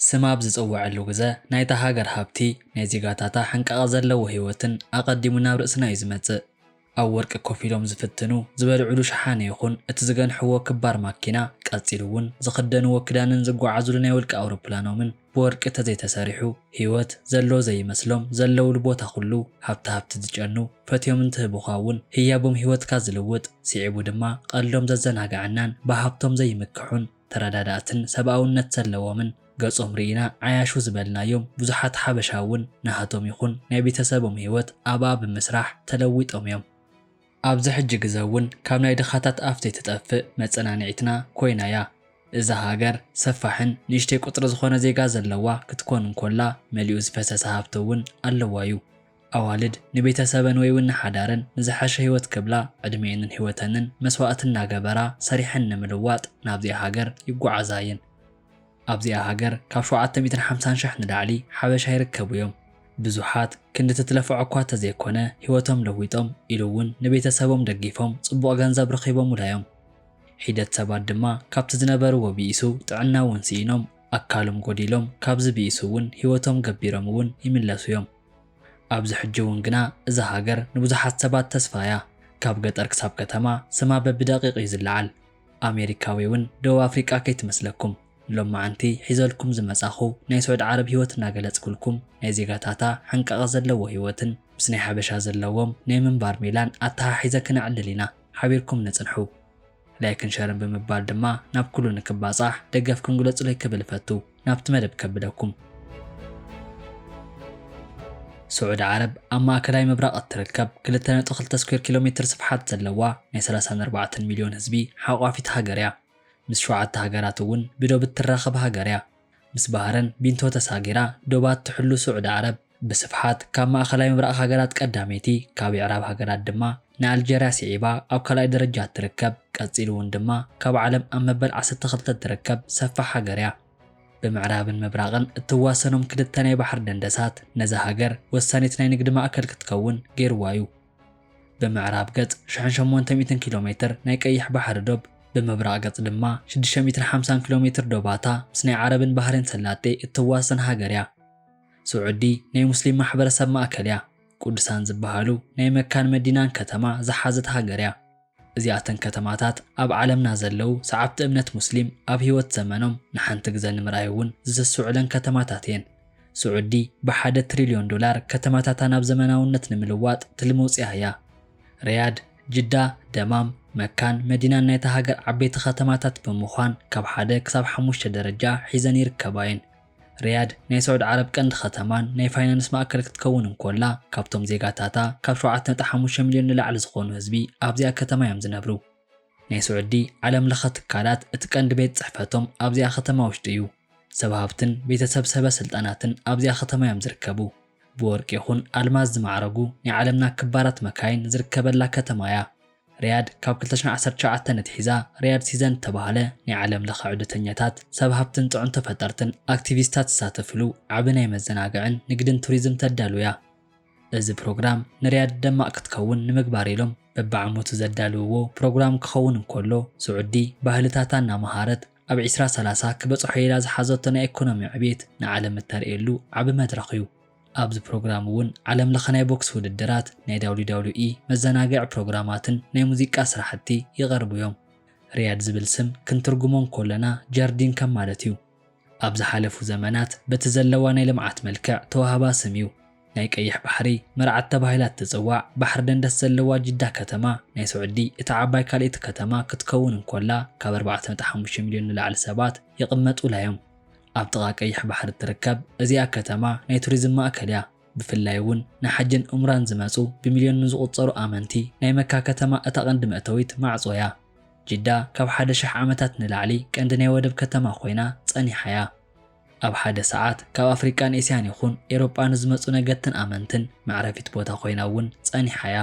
ስም ኣብ ዝጽውዐሉ ግዘ ናይታ ሃገር ሃብቲ፣ ናይ ዜጋታታ ሕንቃቐ ዘለዎ ህይወትን ኣቐዲሙ ናብ ርእስና እዩ ዝመጽእ። ኣብ ወርቂ ኮፍ ኢሎም ዝፍትኑ ዝበልዕሉ ሸሓነ ይኹን እቲ ዝገንሕዎ ክባር ማኪና፣ ቀጺሉ'ውን ዝኽደንዎ ክዳንን ዝጓዓዙሉ ናይ ውልቂ ኣውሮፕላኖምን፣ ብወርቂ ተዘይተሰሪሑ ሂወት ዘሎ ዘይመስሎም ዘለውሉ ቦታ ኩሉ ሃብታ ሃብቲ ዝጨኑ ፈትዮም እንትህቡኻ እውን ህያቦም ሂወትካ ዝልውጥ ሲዒቡ ድማ ቐልዶም ዘዘናግዐናን ብሃብቶም ዘይምክሑን ተረዳዳእትን ሰብኣውነት ዘለዎምን ገፆም ሪኢና ዓያሹ ዝበልናዮም ብዙሓት ሓበሻ እውን ናሃቶም ይኹን ናይ ቤተሰቦም ሂወት ኣብኣ ብምስራሕ ተለዊጦም እዮም። ኣብዚ ሕጂ ግዘ እውን ካብ ናይ ድኻታት ኣፍ ዘይትጠፍእ መፀናኒዒትና ኮይና እያ። እዛ ሃገር ሰፋሕን ንእሽተይ ቁፅሪ ዝኾነ ዜጋ ዘለዋ ክትኮን እንኮላ መሊኡ ዝፈሰሰ ሃፍቲ እውን ኣለዋ እዩ። ኣዋልድ ንቤተሰበን ወይ እውን ንሓዳረን ንዝሐሸ ህይወት ክብላ ዕድሚኤንን ህይወተንን መስዋእቲ እናገበራ ሰሪሐን ንምልዋጥ ናብዚኣ ሃገር ይጓዓዛ እየን። ኣብዚኣ ሃገር ካብ ሸውዓተ ሚእትን ሓምሳን ሽሕ ንላዕሊ ሓበሻ ይርከቡ እዮም። ብዙሓት ክንዲ ትትለፎዖ እኳ ተዘይኮነ ህይወቶም ለዊጦም ኢሉ እውን ንቤተሰቦም ደጊፎም ጽቡቕ ገንዘብ ረኺቦሙላ እዮም። ሒደት ሰባት ድማ ካብቲ ዝነበርዎ ብኢሱ ጥዕና እውን ስኢኖም ኣካሎም ጎዲሎም ካብዚ ብኢሱ እውን ህይወቶም ገቢሮም እውን ይምለሱ እዮም። ኣብዚ ሕጂ እውን ግና እዛ ሃገር ንብዙሓት ሰባት ተስፋ እያ። ካብ ገጠር ክሳብ ከተማ ስማ በብደቂቕ እዩ ዝለዓል። ኣሜሪካዊ ውን ደቡብ ኣፍሪቃ ከይትመስለኩም ሎማዓንቲ ሒዘልኩም ዝመጻኹ ናይ ሱዕዲ ዓረብ ሂወት ናገለጽኩልኩም ናይ ዜጋታታ ሕንቃቀ ዘለዎ ሂወትን ምስ ናይ ሓበሻ ዘለዎም ናይ ምንባር ሜላን ኣተሓሒዘ ክነዕልል ኢና ሓቢርኩም ንጽንሑ ላይክን ሸርን ብምባል ድማ ናብ ኩሉ ንክባጻሕ ደገፍኩም ግለጹለይ ክብል እፈቱ። ናብቲ መደብ ከብለኩም። ስዑዲ ዓረብ ኣብ ማእከላይ ምብራቕ እትርከብ ክልተ ነጥቢ ክልተ ስኩዌር ኪሎ ሜትር ስፍሓት ዘለዋ ናይ ሰላሳን ኣርባዕተን ሚልዮን ህዝቢ ሓቋፊት ሃገር እያ። ምስ ሸውዓተ ሃገራት እውን ብዶብ እትራኸብ ሃገር እያ። ምስ ባህረን ቢንቶ ተሳጊራ ዶባ እትሕሉ ስዑዲ ዓረብ፣ ብስፍሓት ካብ ማእኸላይ ምብራቕ ሃገራት ቀዳመይቲ፣ ካብ የዕራብ ሃገራት ድማ ንኣልጀርያ ስዒባ ኣብ ካልኣይ ደረጃ እትርከብ፣ ቀፂሉ እውን ድማ ካብ ዓለም ኣብ መበል ዓሰርተ ክልተ እትርከብ ሰፋሕ ሃገር እያ። ብምዕራብን ምብራቕን እትዋሰኖም ክልተ ናይ ባሕሪ ደንደሳት ነዛ ሃገር ወሳኒት ናይ ንግዲ ማእከል ክትከውን ገይሩዋ እዩ። ብምዕራብ ገፅ ሽሕን ሸሞንተ ሚእትን ኪሎ ሜትር ናይ ቀይሕ ባሕሪ ዶብ፣ ብምብራቕ ገፅ ድማ ሽዱሽተ ሚእትን ሓምሳን ኪሎ ሜትር ዶባታ ምስ ናይ ዓረብን ባህሬን ሰላጤ እትዋሰን ሃገር እያ። ስዑዲ ናይ ሙስሊም ማሕበረሰብ ማእከል እያ። ቁዱሳን ዝበሃሉ ናይ መካን መዲናን ከተማ ዝሓዘት ሃገር እያ። እዚኣተን ከተማታት ኣብ ዓለምና ዘለዉ ሰዓብቲ እምነት ሙስሊም ኣብ ህይወት ዘመኖም ንሓንቲ ግዘ ንምርኣይ እውን ዝስስዑለን ከተማታት እየን። ስዑዲ ብሓደ ትሪልዮን ዶላር ከተማታታ ናብ ዘመናውነት ንምልዋጥ ትልሚ ኣውፂኣ እያ። ሪያድ፣ ጅዳ፣ ደማም፣ መካን መዲናን ናይታ ሃገር ዓበይቲ ከተማታት ብምዃን ካብ ሓደ ክሳብ ሓሙሽተ ደረጃ ሒዘን ይርከባ እየን። ሪያድ ናይ ስዑድ ዓረብ ቀንዲ ከተማን ናይ ፋይናንስ ማእከል ክትከውን እንኮላ፣ ካብቶም ዜጋታታ ካብ ሸውዓተ ነጥቢ ሓሙሽተ ሚልዮን ንላዕሊ ዝኾኑ ህዝቢ ኣብዚኣ ከተማ እዮም ዝነብሩ። ናይ ስዑዲ ዓለም ለኸ ትካላት እቲ ቀንዲ ቤት ጽሕፈቶም ኣብዚኣ ከተማ ውሽጢ እዩ። ሰብ ሃብትን ቤተሰብ ሰበ ስልጣናትን ኣብዚኣ ከተማ እዮም ዝርከቡ። ብወርቂ ይኹን ኣልማዝ ዝማዕረጉ ናይ ዓለምና ክባራት መካይን ዝርከበላ ከተማ እያ። ርያድ ካብ ክልተ ሽሕን ዓሰርተ ትሽዓተን ኣትሒዛ ርያድ ሲዘን እተባህለ ናይ ዓለም ለኸ ዑደተኛታት፣ ሰብ ሃብትን ጥዑን ተፈጠርትን ኣክቲቪስታት ዝሳተፍሉ ዓቢ ናይ መዘናግዕን ንግድን ቱሪዝም ተዳሉ እያ። እዚ ፕሮግራም ንርያድ ደማቕ ክትከውን ንምግባር ኢሎም በብዓመቱ ዘዳልውዎ ፕሮግራም ክኸውን እንከሎ ስዑዲ ባህልታታ እናመሃረት ኣብ ዕስራ ሰላሳ ክበጽሖ ኢላ ዝሓዘቶ ናይ ኤኮኖሚ ዕብየት ንዓለም እተርእየሉ ዓቢ መድረኽ'ዩ። ኣብዚ ፕሮግራም እውን ዓለም ለኸ ናይ ቦክስ ውድድራት፣ ናይ WWE መዘናግዒ ፕሮግራማትን ናይ ሙዚቃ ስራሕቲ ይቐርቡ እዮም። ሪያድ ዝብል ስም ክንትርጉሞ እንኮለና ጀርዲን ከም ማለት እዩ። ኣብ ዝሓለፉ ዘመናት በቲ ዘለዋ ናይ ልምዓት መልክዕ ተዋህባ ስም እዩ። ናይ ቀይሕ ባሕሪ መርዓት ተባሂላ እትፅዋዕ ባሕሪ ደንደስ ዘለዋ ጅዳ ከተማ ናይ ስዑዲ እታ ዓባይ ካልኤቲ ከተማ ክትከውን እንኮላ ካብ ኣርባዕተ ነጥቢ ሓሙሽተ ሚልዮን ንላዕሊ ሰባት ይቕመጡላ እዮም። ኣብ ጥቓ ቀይሕ ባሕሪ እትርከብ እዚኣ ከተማ ናይ ቱሪዝም ማእከል እያ። ብፍላይ እውን ንሓጅን ዑምራን ዝመጹ ብሚልዮን ንዝቑጸሩ ኣመንቲ ናይ መካ ከተማ እታ ቀንዲ መእተዊት ማዕጾ እያ። ጅዳ ካብ ሓደ ሽሕ ዓመታት ንላዕሊ ቀንዲ ናይ ወደብ ከተማ ኮይና ጸኒሓ እያ። ኣብ ሓደ ሰዓት ካብ ኣፍሪቃን ኤስያን ይኹን ኤሮጳ ንዝመጹ ነገድትን ኣመንትን መዕረፊት ቦታ ኮይና እውን ጸኒሓ እያ።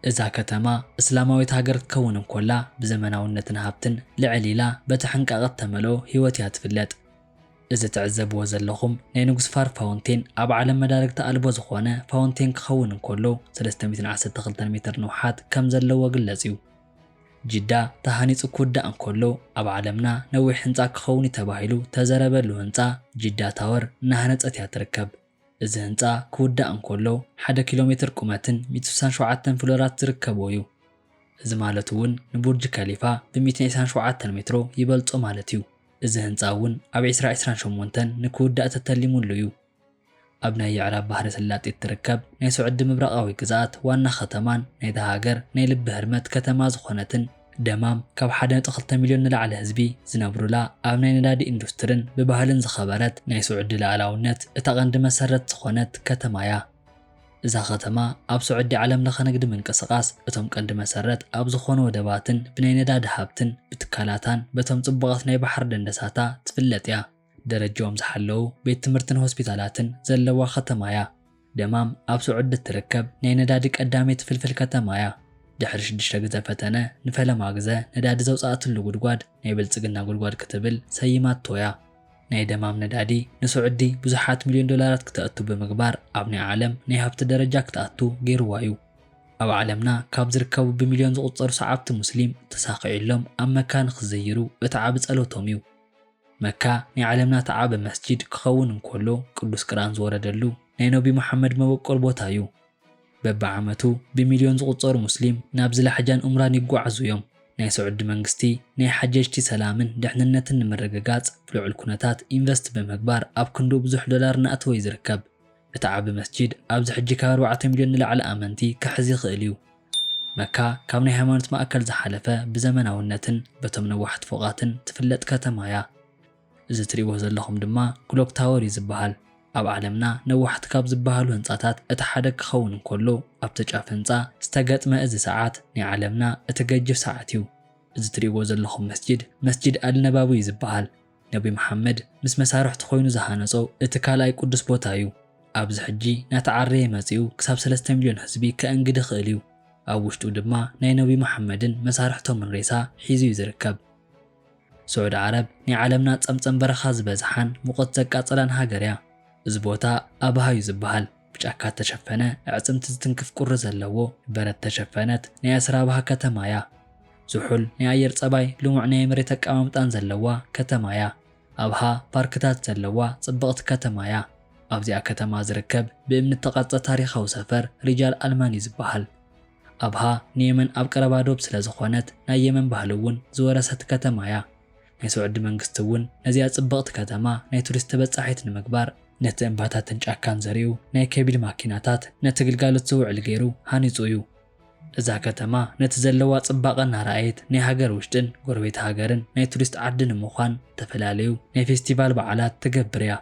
እዛ ከተማ እስላማዊት ሃገር ክትከውን እንኮላ ብዘመናውነትን ሃብትን ልዕል ኢላ በቲ ሕንቃቐ እተመልኦ ህይወት እያ ትፍለጥ። እዚ ትዕዘብዎ ዘለኹም ናይ ንጉስ ፋር ፋውንቴን ኣብ ዓለም መዳርግቲ ኣልቦ ዝኾነ ፋውንቴን ክኸውን እንኮሎ ሰለስተ ሚእትን ዓሰርተ ክልተን ሜትር ንውሓት ከምዘለዎ ግለጽ እዩ። ጅዳ ተሃኒጹ ክውዳእ እንኮሎ ኣብ ዓለምና ነዊሕ ህንጻ ክኸውን እዩ ተባሂሉ ተዘረበሉ ህንጻ ጅዳ ታወር እናሃነጸት እያ ትርከብ። እዚ ህንጻ ክውዳእ እንከሎ ሓደ ኪሎ ሜትር ቁመትን ሚእቲ ስሳን ሸውዓተን ፍሎራት ዝርከቦ እዩ። እዚ ማለት እውን ንቡርጅ ከሊፋ ብሚእትን ዒስራን ሸውዓተን ሜትሮ ይበልጾ ማለት እዩ። እዚ ህንጻ እውን ኣብ ዒስራ ዒስራን ሸሞንተን ንክውዳእ ተተሊሙሉ እዩ። ኣብ ናይ የዕራብ ባህረ ስላጤ እትርከብ ናይ ሶዕዲ ምብራቓዊ ግዝኣት ዋና ከተማን ናይታ ሃገር ናይ ልቢ ህርመት ከተማ ዝኾነትን ደማም ካብ ሓደ ነጥቢ ክልተ ሚልዮን ንላዕሊ ህዝቢ ዝነብሩላ፣ ኣብ ናይ ነዳዲ ኢንዱስትርን ብባህልን ዝኸበረት፣ ናይ ስዑዲ ልኣላውነት እታ ቀንዲ መሰረት ዝኾነት ከተማ'ያ። እዛ ከተማ ኣብ ስዑዲ ዓለም ለኸ ንግዲ ምንቅስቓስ እቶም ቀንዲ መሰረት ኣብ ዝኾኑ ወደባትን ብናይ ነዳዲ ሃብትን ብትካላታን በቶም ጽቡቓት ናይ ባሕሪ ደንደሳታ ትፍለጥ'ያ። ደረጅኦም ዝሓለዉ ቤት ትምህርትን ሆስፒታላትን ዘለዋ ከተማ እያ። ደማም ኣብ ስዑዲ እትርከብ ናይ ነዳዲ ቀዳመይቲ ፍልፍል ከተማ እያ። ድሕሪ ሽዱሽተ ግዘ ፈተነ ንፈለማ ግዘ ነዳዲ ዘውፀኣትሉ ጉድጓድ ናይ ብልፅግና ጉድጓድ ክትብል ሰይማቶ እያ። ናይ ደማም ነዳዲ ንስዑዲ ብዙሓት ሚልዮን ዶላራት ክተእቱ ብምግባር ኣብ ናይ ዓለም ናይ ሃብቲ ደረጃ ክትኣቱ ገይርዋ እዩ። ኣብ ዓለምና ካብ ዝርከቡ ብሚልዮን ዝቑፀሩ ሰዓብቲ ሙስሊም ተሳኺዕሎም ኣብ መካ ንክዝይሩ እቲ ዓቢ ፀሎቶም እዩ። መካ ናይ ዓለምና እቲ ዓቢ መስጂድ ክኸውን እንኮሎ ቅዱስ ቅርኣን ዝወረደሉ ናይ ነቢ ሙሓመድ መበቆል ቦታ እዩ። በቢ ዓመቱ ብሚልዮን ዝቑጸሩ ሙስሊም ናብዚ ላሕጃን ኡምራን ይጓዓዙ እዮም። ናይ ስዑዲ መንግስቲ ናይ ሓጀጅቲ ሰላምን ድሕንነትን ንምርግጋጽ ብልዑል ኩነታት ኢንቨስት ብምግባር ኣብ ክንድኡ ብዙሕ ዶላር እናእተወ እዩ ዝርከብ። እቲ ዓቢ መስጂድ ኣብዚ ሕጂ ካብ ኣርባዕተ ሚልዮን ንላዕሊ ኣመንቲ ክሕዝ ይኽእል እዩ። መካ ካብ ናይ ሃይማኖት ማእከል ዝሓለፈ ብዘመናውነትን በቶም ነዋሕቲ ፎቓትን ትፍለጥ ከተማ እያ። እዚ ትርእይዎ ዘለኹም ድማ ክሎክ ታወር እዩ ዝበሃል። ኣብ ዓለምና ነዋሕቲ ካብ ዝበሃሉ ህንጻታት እቲ ሓደ ክኸውን እንከሎ ኣብቲ ጫፍ ህንጻ ዝተገጥመ እዚ ሰዓት ናይ ዓለምና እቲ ገጅፍ ሰዓት እዩ። እዚ ትርእይዎ ዘለኹም መስጂድ መስጂድ ኣልነባዊ እዩ ዝበሃል። ነቢ መሓመድ ምስ መሳርሕቱ ኮይኑ ዝሃነጾ እቲ ካልኣይ ቅዱስ ቦታ እዩ። ኣብዚ ሕጂ ናተዓረየ መጺኡ ክሳብ ሰለስተ ሚልዮን ህዝቢ ከእንግድ ይኽእል እዩ። ኣብ ውሽጡ ድማ ናይ ነቢ መሓመድን መሳርሕቶምን ሬሳ ሒዙ እዩ ዝርከብ። ስዑዲ ዓረብ ናይ ዓለምና ጸምጸም በረኻ ዝበዝሓን ሙቐት ዘቃጽላን ሃገር እያ። እዚ ቦታ ኣብሃ እዩ ዝበሃል። ብጫካ እተሸፈነ ኣዕጽምቲ ዝትንክፍ ቁሪ ዘለዎ በረት እተሸፈነት ናይ ኣስራብሃ ከተማ እያ። ዝሑል ናይ ኣየር ጸባይ ልሙዕ ናይ መሬት ኣቀማምጣን ዘለዋ ከተማ እያ። ኣብሃ ፓርክታት ዘለዋ ጽብቕቲ ከተማ እያ። ኣብዚኣ ከተማ ዝርከብ ብእምኒ እተቐርጸ ታሪኻዊ ሰፈር ሪጃል ኣልማን እዩ ዝበሃል። ኣብሃ ንየመን ኣብ ቀረባ ዶብ ስለ ዝኾነት ናይ የመን ባህሊ እውን ዝወረሰት ከተማ እያ። ናይ ስዑዲ መንግስቲ እውን ነዚኣ ጽብቕቲ ከተማ ናይ ቱሪስት ተበጻሒት ንምግባር፣ ነቲ እምባታትን ጫካን ዘሪኡ፣ ናይ ከቢድ ማኪናታት ነቲ ግልጋሎት ዝውዕል ገይሩ ሃኒጹ እዩ። እዛ ከተማ ነቲ ዘለዋ ጽባቐ እናረኣየት ናይ ሃገር ውሽጥን ጎረቤት ሃገርን ናይ ቱሪስት ዓዲ ንምዃን ዝተፈላለዩ ናይ ፌስቲቫል በዓላት ትገብር እያ።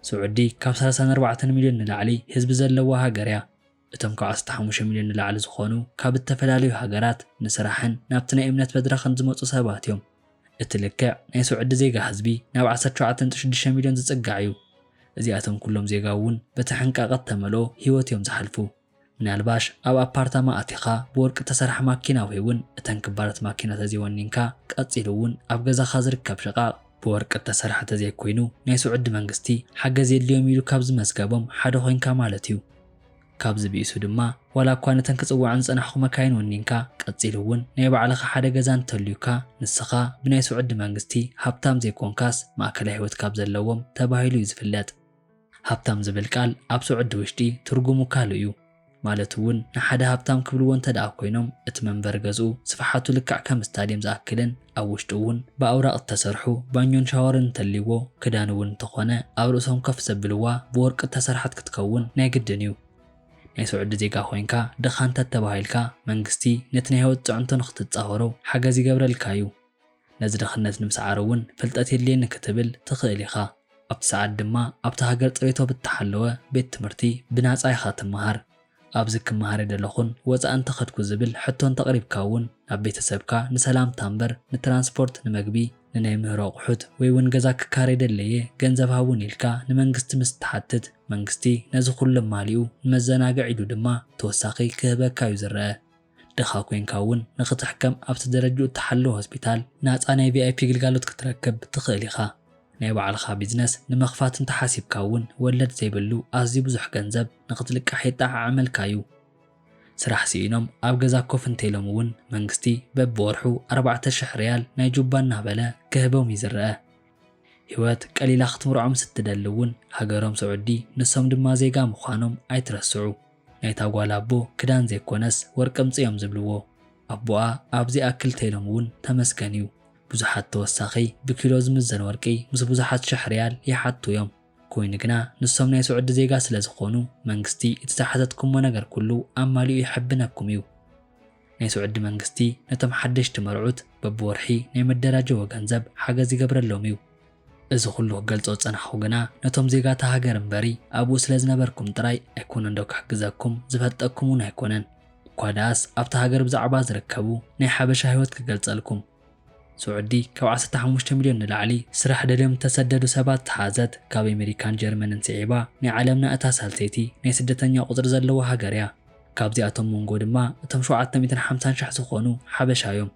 ስዑዲ ካብ ሰላሳን ኣርባዕተን ሚልዮን ንላዕሊ ህዝቢ ዘለዋ ሃገር እያ። እቶም ካብ ዓሰርተ ሓሙሽተ ሚልዮን ንላዕሊ ዝኾኑ ካብ እተፈላለዩ ሃገራት ንስራሕን ናብቲ ናይ እምነት መድረኽን ዝመጹ ሰባት እዮም። እቲ ልክዕ ናይ ስውዕዲ ዜጋ ህዝቢ ናብ ዓሰርተ ሸውዓተ ነጥቢ ሽዱሽተ ሚልዮን ዝጽጋዕ እዩ። እዚኣቶም ኩሎም ዜጋውን በቲ ሕንቃቐ እተመልኦ ህይወት እዮም ዝሓልፉ። ምናልባሽ ኣብ ኣፓርታማ ኣቲኻ ብወርቂ እተሰርሐ ማኪና ወይውን እተን ክባራት ማኪና ተዘይወኒንካ ቀጺሉውን ኣብ ገዛኻ ዝርከብ ሽቓቕ ብወርቂ እተሰርሐ ተዘይኮይኑ ናይ ስውዕዲ መንግስቲ ሓገዝ የድልዮም ኢሉ ካብ ዝመዝገቦም ሓደ ኮይንካ ማለት እዩ። ካብዚ ብኢሱ ድማ ዋላ እኳ ነተን ክጽውዐን ዝጸናሕኩ መካይን ወኒንካ፣ ቀጺሉ እውን ናይ ባዕልኻ ሓደ ገዛ እንተልዩካ፣ ንስኻ ብናይ ስዑዲ መንግስቲ ሃብታም ዘይኮንካስ ማእከላይ ህይወት ካብ ዘለዎም ተባሂሉ እዩ ዝፍለጥ። ሃብታም ዝብል ቃል ኣብ ስዑዲ ውሽጢ ትርጉሙ ካልእ እዩ። ማለት እውን ንሓደ ሃብታም ክብልዎ እንተድኣ ኮይኖም እቲ መንበሪ ገዝኡ ስፍሓቱ ልክዕ ከም ስታድየም ዝኣክልን፣ ኣብ ውሽጡ እውን ብኣውራቕ እተሰርሑ ባኞን ሻወርን እንተልይዎ፣ ክዳን እውን እንተ ኾነ ኣብ ርእሶም ከፍ ዘብልዋ ብወርቂ እተሰርሐት ክትከውን ናይ ግድን እዩ። ናይ ስዑዲ ዜጋ ኮይንካ ድኻ እንተ ተባሂልካ፣ መንግስቲ ነቲ ናይ ህይወት ጽዕንቶ ንኽትጻወሮ ሓገዝ ይገብረልካ እዩ። ነዚ ድኽነት ንምስዓሩ እውን ፍልጠት የድልየኒ ክትብል ትኽእል ኢኻ። ኣብቲ ሰዓት ድማ ኣብታ ሃገር ጽሬቶ ብእተሓለወ ቤት ትምህርቲ ብናጻ ኢኻ እትመሃር። ኣብዚ ክመሃረ ደለኹን ወጻኢ እንተኸድኩ ዝብል ሕቶ እንተቕሪብካ እውን ናብ ቤተሰብካ ንሰላምታ እምበር ንትራንስፖርት ንመግቢ ንናይ ምህሮ ኣቑሑት ወይ እውን ገዛ ክካረይ ደለየ ገንዘብ ሃቡኒ ኢልካ ንመንግስቲ ምስ እትሓትት መንግስቲ ነዚ ኩሉ ኣማሊኡ ንመዘናግዕ ኢሉ ድማ ተወሳኺ ክህበካ እዩ ዝረኣ። ድኻ ኮይንካ እውን ንኽትሕከም ኣብቲ ደረጅኡ እተሓለወ ሆስፒታል ናጻ ናይ ቪኣይፒ ግልጋሎት ክትረክብ ትኽእል ኢኻ። ናይ ባዕልኻ ቢዝነስ ንምኽፋት እንተ ሓሲብካ እውን ወለድ ዘይብሉ ኣዝዩ ብዙሕ ገንዘብ ንኽትልቃሕ የጠዓዕመልካ እዩ። ስራሕ ስኢኖም ኣብ ገዛ ኮፍ እንተኢሎም እውን መንግስቲ በብወርሑ ኣርባዕተ ሽሕ ሪያል ናይ ጁባ እናበለ ክህቦም እዩ ዝረኣ። ህይወት ቀሊላ ክትምርዖም ስትደሊ እውን ሃገሮም ስዑዲ ንሶም ድማ ዜጋ ምዃኖም ኣይትረስዑ። ናይታ ጓል ኣቦ ክዳን ዘይኮነስ ወርቂ ኣምጽእ እዮም ዝብልዎ ኣቦኣ ኣብ ዘይኣክል ተይሎም ውን ተመስገን እዩ ብዙሓት ተወሳኺ ብኪሎ ዝምዘን ወርቂ ምስ ብዙሓት ሽሕ ርያል ይሓቱ እዮም ኮይኑ ግና ንሶም ናይ ሱዕዲ ዜጋ ስለ ዝኾኑ መንግስቲ እቲ ዝሓተትኩሞ ነገር ኩሉ ኣማሊኡ ይሕብነኩም እዩ። ናይ ስዑዲ መንግስቲ ነቶም ሓደሽቲ መርዑት በብወርሒ ናይ መደራጀዎ ገንዘብ ሓገዝ ይገብረሎም እዩ። እዚ ኩሉ ክገልጾ ዝጸናሕኩ ግና ነቶም ዜጋታ ሃገር እምበሪ ኣብኡ ስለ ዝነበርኩም ጥራይ ኣይኮነንዶ ክሕግዘኩም ዝፈልጠኩም ውን ኣይኮነን እኳ ደኣስ ኣብታ ሃገር ብዛዕባ ዝርከቡ ናይ ሓበሻ ሂወት ክገልጸልኩም። ስዑዲ ካብ ዓሰርተ ሓሙሽተ ሚልዮን ንላዕሊ ስራሕ ደልዮም ዝተሰደዱ ሰባት ዝሓዘት ካብ ኤመሪካን ጀርመንን ስዒባ ናይ ዓለምና እታ ሳልሰይቲ ናይ ስደተኛ ቁጽሪ ዘለዋ ሃገር እያ። ካብዚኣቶም ሞንጎ ድማ እቶም ሸውዓተ ሚእትን ሓምሳን ሽሕ ዝኾኑ ሓበሻ እዮም።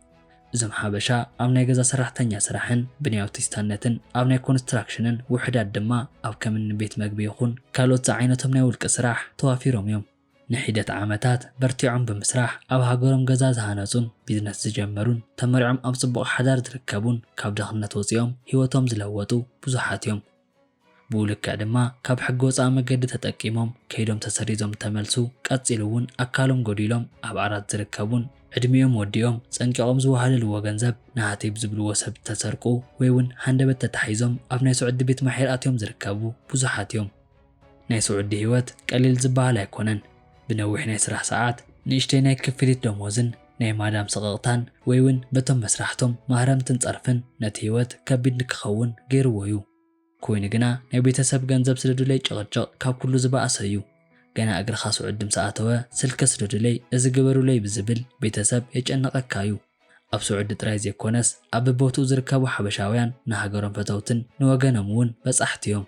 እዞም ሓበሻ ኣብ ናይ ገዛ ሰራሕተኛ ስራሕን ብናይ ኣውቲስታነትን ኣብ ናይ ኮንስትራክሽንን ውሑዳት ድማ ኣብ ከም እኒ ቤት መግቢ ይኹን ካልኦት ዝዓይነቶም ናይ ውልቂ ስራሕ ተዋፊሮም እዮም። ንሒደት ዓመታት በርቲዖም ብምስራሕ ኣብ ሃገሮም ገዛ ዝሃነጹን ቢዝነስ ዝጀመሩን፣ ተመሪዖም ኣብ ጽቡቕ ሓዳር ዝርከቡን ካብ ድኽነት ወጺኦም ህይወቶም ዝለወጡ ብዙሓት እዮም። ብኡ ልክዕ ድማ ካብ ሕጊ ወጻኢ መገዲ ተጠቂሞም ከይዶም ተሰሪዞም እተመልሱ፣ ቀጺሉ እውን ኣካሎም ጎዲሎም ኣብ ዓራት ዝርከቡን ዕድሚኦም ወዲኦም ጸንቂቖም ዝወሃለልዎ ገንዘብ ናሃተይ ብዝብልዎ ሰብ እተሰርቁ ወይ እውን ሃንደበት ተታሒዞም ኣብ ናይ ስዑዲ ቤት ማሕየር ኣትዮም ዝርከቡ ብዙሓት እዮም። ናይ ስዑዲ ህይወት ቀሊል ዝበሃል ኣይኮነን። ብነዊሕ ናይ ስራሕ ሰዓት፣ ንእሽተይ ናይ ክፍሊት ደሞዝን ናይ ማዳም ስቕቕታን ወይ'ውን በቶም መስራሕቶም ማህረምትን ጸርፍን ነቲ ህይወት ከቢድ ንክኸውን ገይርዎ'ዩ። ኮይኑ ግና ናይ ቤተሰብ ገንዘብ ስደዱለይ ጭቕጭቕ ካብ ኩሉ ዝበኣሰ'ዩ። ገና እግርኻ ስዑዲ ምስ ኣተወ ስልኪ ስደዱለይ፣ እዚ ግበሩለይ ብዝብል ቤተሰብ የጨንቐካ'ዩ። ኣብ ስዑዲ ጥራይ ዘይኮነስ ኣብ በቦትኡ ዝርከቡ ሓበሻውያን ንሃገሮም ፈተውትን ንወገኖም'ውን በጻሕቲ'ዮም።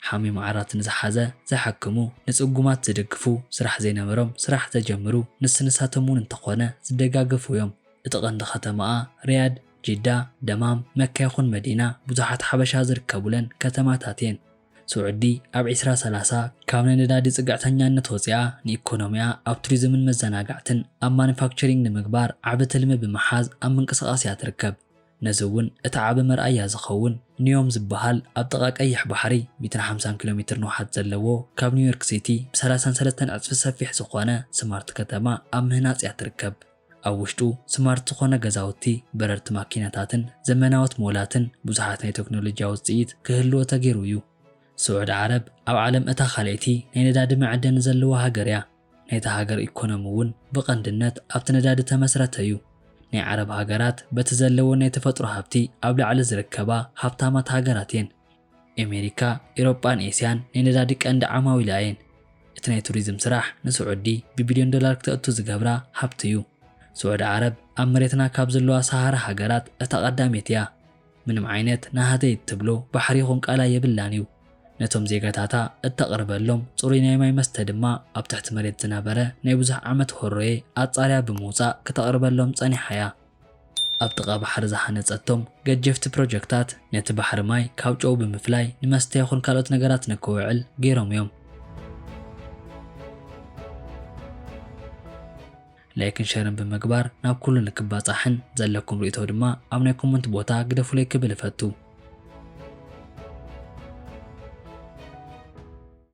ሓሚሙ ዓራት ንዝሓዘ ዝሓክሙ፣ ንጽጉማት ዝድግፉ፣ ስራሕ ዘይነበሮም ስራሕ ዘጀምሩ ንስ ንሳቶም ውን እንተኾነ ዝደጋገፉ ዮም። እቲ ቀንዲ ከተማኣ ሪያድ፣ ጂዳ፣ ደማም፣ መካ ይኹን መዲና ብዙሓት ሓበሻ ዝርከቡለን ከተማታት የን። ስዑዲ ኣብ ዕስራ ሰላሳ ካብ ናይ ነዳዲ ጽግዕተኛነት ወጺኣ ንኢኮኖሚኣ ኣብ ቱሪዝምን መዘናጋዕትን ኣብ ማኑፋክቸሪንግ ንምግባር ዓቢ ትልሚ ብምሓዝ ኣብ ምንቅስቓስ እያ ትርከብ። ነዚ እውን እቲ ዓቢ መርኣያ ዝኸውን ኒዮም ዝበሃል ኣብ ጥቓ ቀይሕ ባሕሪ ሚእትን ሓምሳን ኪሎ ሜትር ንውሓት ዘለዎ ካብ ኒውዮርክ ሲቲ ብ ሰላሳን ሰለስተን ዕጽፊ ሰፊሕ ዝኾነ ስማርት ከተማ ኣብ ምህናጽ እያ ትርከብ። ኣብ ውሽጡ ስማርት ዝኾነ ገዛውቲ፣ በረርቲ ማኪናታትን ዘመናዎት ሞላትን ብዙሓት ናይ ተክኖሎጂያ ውጽኢት ክህልዎ ተገይሩ እዩ። ስዑድ ዓረብ ኣብ ዓለም እታ ካልኣይቲ ናይ ነዳዲ መዐደኒ ዘለዋ ሃገር እያ። ናይታ ሃገር ኢኮኖሚ እውን ብቐንድነት ኣብቲ ነዳዲ ተመስረተ እዩ። ናይ ዓረብ ሃገራት በቲ ዘለወን ናይ ተፈጥሮ ሃብቲ ኣብ ላዕሊ ዝርከባ ሃብታማት ሃገራት እየን። ኤሜሪካ፣ ኢሮጳን ኤስያን ናይ ነዳዲ ቀንዲ ዓማዊላ እየን። እቲ ናይ ቱሪዝም ስራሕ ንስዑዲ ብቢልዮን ዶላር ክተእቱ ዝገብራ ሃብቲ እዩ። ስዑዲ ዓረብ ኣብ መሬትና ካብ ዘለዋ ሰሃራ ሃገራት እታ ቀዳሜት እያ። ምንም ዓይነት ናሃተይ እትብሎ ባሕሪ ይኹን ቃላይ የብላን እዩ። ነቶም ዜጋታታ እተቕርበሎም ጽሩይ ናይ ማይ መስተ ድማ ኣብ ትሕቲ መሬት ዝነበረ ናይ ብዙሕ ዓመት ሆሮየ ኣጻርያ ብምውጻእ ክተቕርበሎም ጸኒሓ እያ። ኣብ ጥቓ ባሕሪ ዝሃነጸቶም ገጀፍቲ ፕሮጀክታት ነቲ ባሕሪ ማይ ካብ ጨው ብምፍላይ ንመስተ ይኹን ካልኦት ነገራት ንክውዕል ገይሮም እዮም። ላይክን ሸርን ብምግባር ናብ ኩሉ ንክባጻሕን ዘለኩም ሪኢቶ ድማ ኣብ ናይ ኮመንት ቦታ ግደፉለይ ክብል እፈቱ።